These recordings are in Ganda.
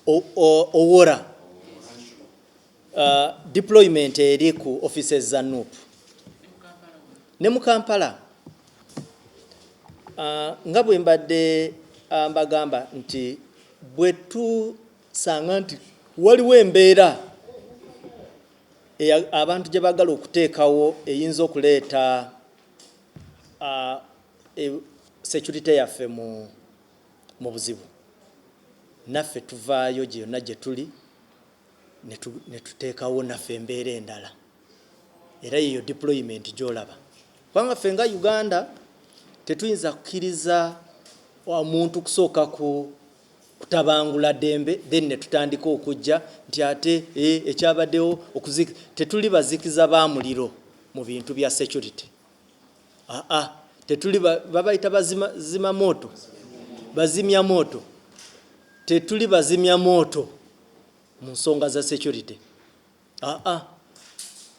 owora uh, deployment eri ku offices za nup ne mu kampala uh, nga bwe mbadde uh, mbagamba nti bwe tusanga nti waliwo embeera abantu gye bagala okuteekawo eyinza okuleeta uh, e, security yaffe mu mu buzibu, naffe tuvaayo gye yonna gye tuli ne tu, ne tuteekawo naffe embeera endala. Era yeeyo deployment gy'olaba. Kubanga ffe nga Uganda tetuyinza kukkiriza omuntu kusooka ku kutabangula dembe then netutandika okujja nti ate e, ekyabaddewo okuziki tetuli bazikiza ba muliro mu bintu bya security Ah, ah, tetuli ba- babayita bazima zima moto bazimya moto tetuli bazimya moto mu nsonga za security Ah, ah.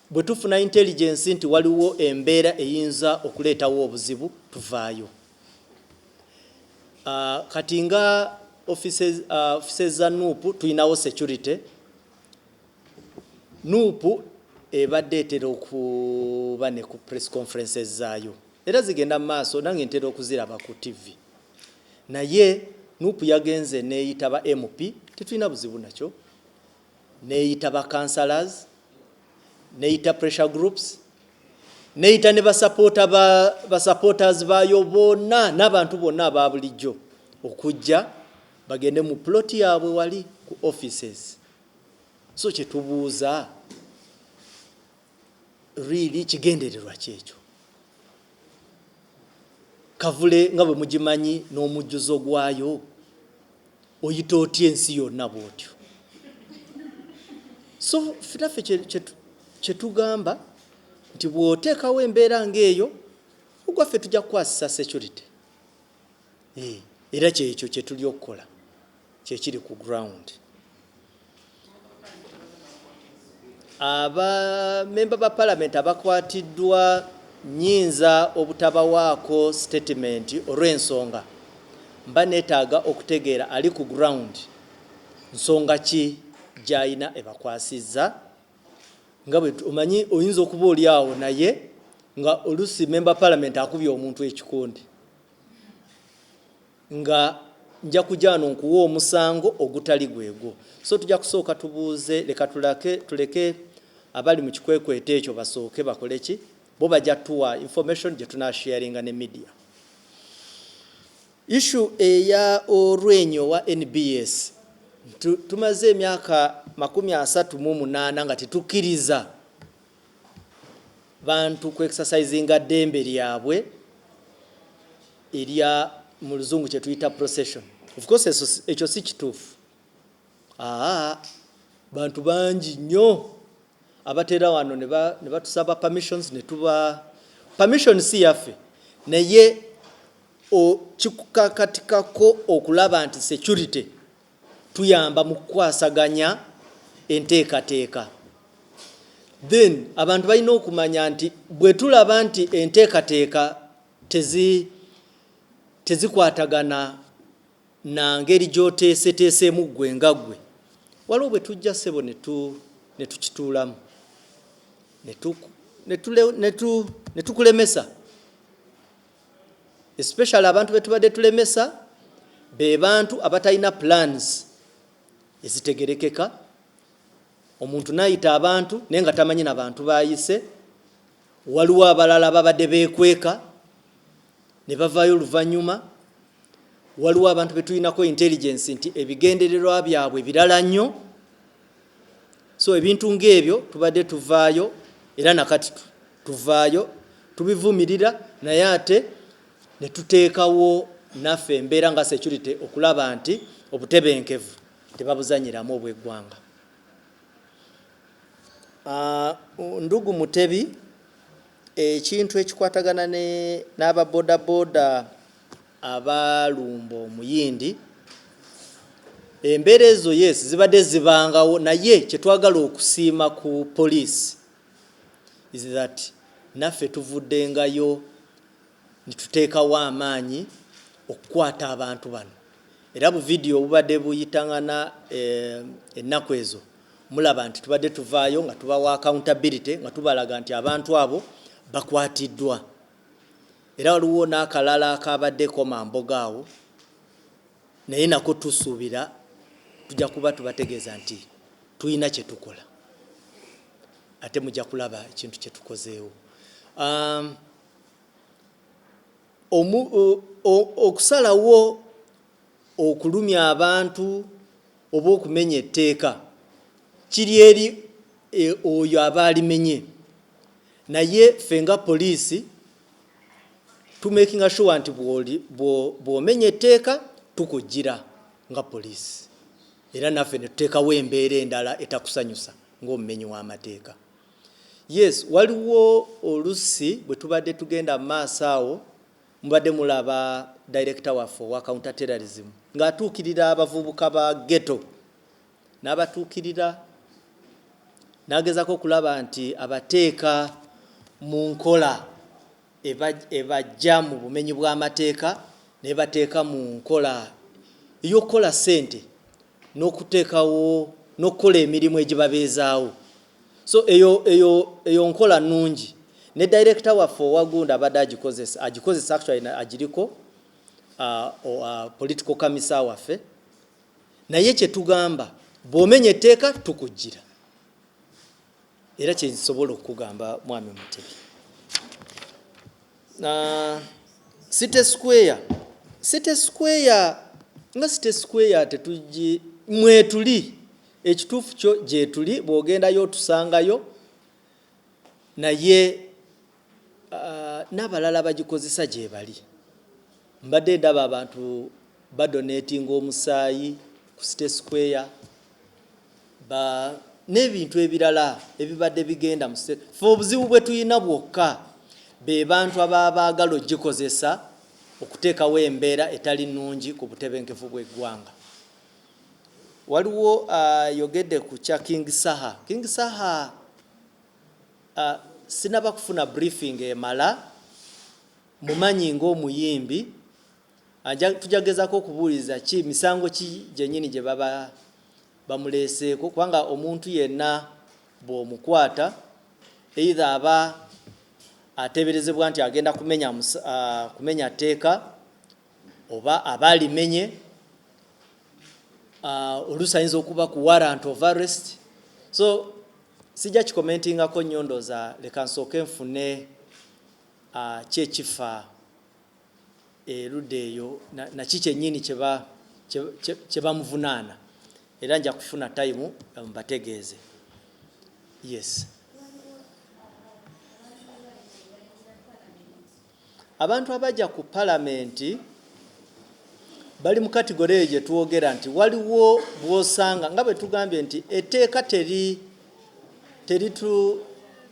bwe tufuna intelligence nti waliwo embeera eyinza okuleetawo obuzibu tuvaayo Ah, kati nga offices ah, offices za nup tulinawo security Nup ebadde etera okuba ne ku press conferences zaayo era zigenda mu maaso nange ntera okuziraba ku TV naye Nup yagenze neeyita ba MP tetulina buzibu nakyo neeyita ba councillors neeyita pressure groups neeyita ne basapoota ba basupporters baayo bonna n'abantu bonna aba bulijjo okujja bagende mu plot yaabwe wali ku offices So kyetubuuza really kigendererwa kyekyo kavule nga bwe mugimanyi n'omujjuzo gwayo oyita otya ensi yonna bwotyo so finaffe kyetugamba nti bw'oteekawo embeera ng'eyo ogwaffe tujja kukwasisa security eh, era kyekyo kyetuli okukola kyekiri ku ground abamemba ba palamenti abakwatiddwa nyinza obutabawaako sitatimenti olw'ensonga mba neetaaga okutegeera ali ku ground nsonga ki gy'alina ebakwasizza nga bwe omanyi oyinza okuba oli awo naye nga olusi memba palamenti akubye omuntu ekikundi nga nja kujaano nkuwa omusango ogutali gwegwo so tujja kusooka tubuuze leka tulake tuleke abali mu kikwekweto ekyo basooke bakole ki bo bajja tuwa information gye tunasharinga ne media Issue eya olwenyi owa nbs nti tumaze emyaka makumi asatu mu munaana nga tetukiriza bantu ku exercisinga dembe lyabwe erya mu luzungu kyetuyita procession of course ekyo si kituufu aa bantu bangi nnyo abatera wano ne batusaba permissions ne tuba permission si yaffe naye O Kikukakatikako okulaba nti securite tuyamba mu kukwasaganya enteekateeka. Then abantu balina okumanya nti bwe tulaba nti enteekateeka tezi tezikwatagana na ngeri gy'oteeseteeseemu ggwe nga ggwe waliwo bwe tujja ssebo ne tukituulamu ne tukulemesa especially abantu betubadde tulemesa be bantu abatalina plans ezitegerekeka omuntu nayita abantu naye nga tamanyi na bantu bayise waliwo abalala babadde bekweka ne bavayo oluvanyuma waliwo abantu betulinako intelligence nti ebigendererwa byabwe birala nnyo so ebintu ng'ebyo tubadde tuvaayo era nakati tuvaayo tubivumirira naye ate ne tuteekawo naffe embeera nga security okulaba nti obutebenkevu tebabuzanyiramu obw'eggwanga ah, ndugu mutebi ekintu ekikwatagana n'ababodaboda abaalumba omuyindi embeera ezo yes zibadde zibangawo naye kyetwagala okusiima ku poliisi is that naffe tuvuddengayo nituteekawo amaanyi okukwata abantu bano era bu vidiyo obubadde buyitangana eh, ennaku ezo mulaba nti tubadde tuvaayo nga tubawa accountability nga tubalaga nti abantu abo bakwatiddwa Era waliwo n'akalala akabaddeko mamboga awo naye nako tusuubira tujja kuba tubategeeza nti tulina kye tukola ate mujja kulaba ekintu kye tukozeewo. Um, omu, o, o, okusalawo okulumya abantu oba okumenya etteeka kiri eri e, oyo aba alimenye naye ffe nga poliisi tumakinga sure nti bw'omenya etteeka tukujjira nga poliisi era naffe ne tuteekawo embeera endala etakusanyusa ng'omumenyi w'amateeka yes waliwo olusi bwe tubadde tugenda mu maaso awo mubadde mulaba director waffe owa counter terrorism ng'atuukirira abavubuka ba ghetto n'abatuukirira n'agezaako okulaba nti abateeka mu nkola ebaggya mu bumenyi bw'amateeka n'ebateeka mu nkola ey'okukola ssente n'okuteekawo n'okukola emirimu egibabeezaawo so eyo eyo eyo nkola nnungi ne dayirekita waffe owagunda abadde agikozesa agikozesa actually agiriko uh, uh, political kamisa waffe naye kye tugamba bw'omenya etteeka tukujjira era kye nsobola okukugamba mwami Mutebi City Square City Square nga City Square tetujji mwetuli ekituufu kyo gyetuli bw'ogendayo otusangayo naye n'abalala abagikozesa gyebali mbadde ndaba abantu badonatinga omusaayi ku site square ba n'ebintu ebirala ebibadde bigenda mu site fe obuzibu bwe tulina bwokka be bantu ababaagala ogikozesa okuteekawo embeera etali nnungi ku butebenkevu bw'eggwanga waliwo ayogedde ku kya king saha king saha A, Sinaba kufuna briefing emala mumanyi nga omuyimbi, anja tuja gezako okubuliza ki misango ki gyenyini gyebaba bamuleseeko kubanga omuntu yenna bwomukwata either aba ateberezebwa nti agenda kumenya a, kumenya tteeka oba aba alimenye oluusi ayinza okuba ku warrant of arrest so Sijja kikomentingako nnyo ndooza leka nsooke nfune a ki ekifa eluda eyo na, na ki kyenyini kyeba kyebamuvunaana era nja kufuna time mbategeeze yes. Abantu abagya ku palamenti bali mu katigore eyo gye twogera nti waliwo bw'osanga nga bwe tugambye nti etteeka teri teritu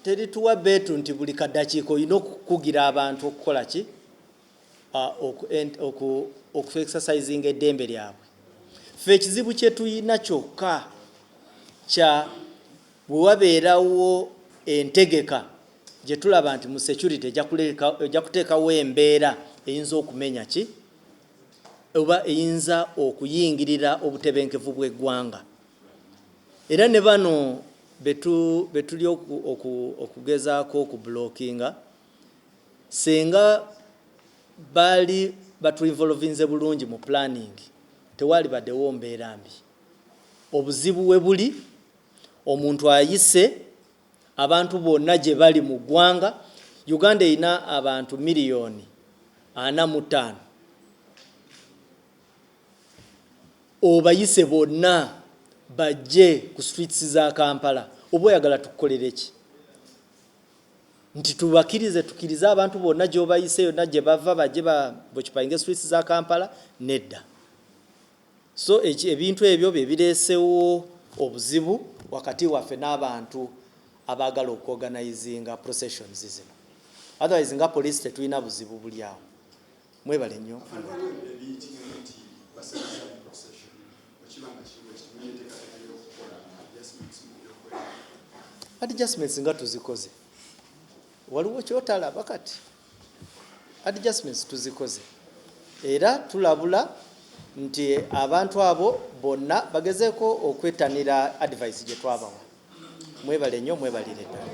terituwa beetu nti buli kaddakiika olina okukugira abantu okukola ki okuexercisinga eddembe lyabwe ffe ekizibu kye tulina kyokka kya Bwe wabeerawo entegeka gye tulaba nti mu security ejja kuteekawo embeera eyinza okumenya ki oba eyinza okuyingirira obutebenkevu bw'eggwanga era ne bano be tuli okugezaako okubulokinga singa baali batuinvolovinze bulungi mu planning tewaali badewo mbeera mbi obuzibu we buli Omuntu ayise abantu bonna gye bali mu ggwanga. Uganda erina abantu miriyoni ana mu ttaano. Obayise bonna bajje ku streets za Kampala oba oyagala tukukolere ki? Nti tubakirize tukirize abantu bonna gy'obayise yonna gye bava bajje ba bokipainge streets za Kampala? Nedda. So eki, ebintu ebyo bye bireesewo obuzibu wakati waffe n'abantu abaagala okuorganizinga processions zino. Otherwise nga police tetulina buzibu buli awo. Mwebale nnyo. Afande, waliwo ebintu ebiyitibwa nti basazza procession, bwe kiba nga kiri bwe kityo, mulina enteekateeka y'okukola adjustments mu byokwerinda? Adjustments nga tuzikoze? Waliwo ky'otalaba kati? Adjustments tuzikoze era tulabula nti abantu abo bonna bagezeeko okwettanira advice gye twabawa. Mwebale nnyo, mwebalire ddala.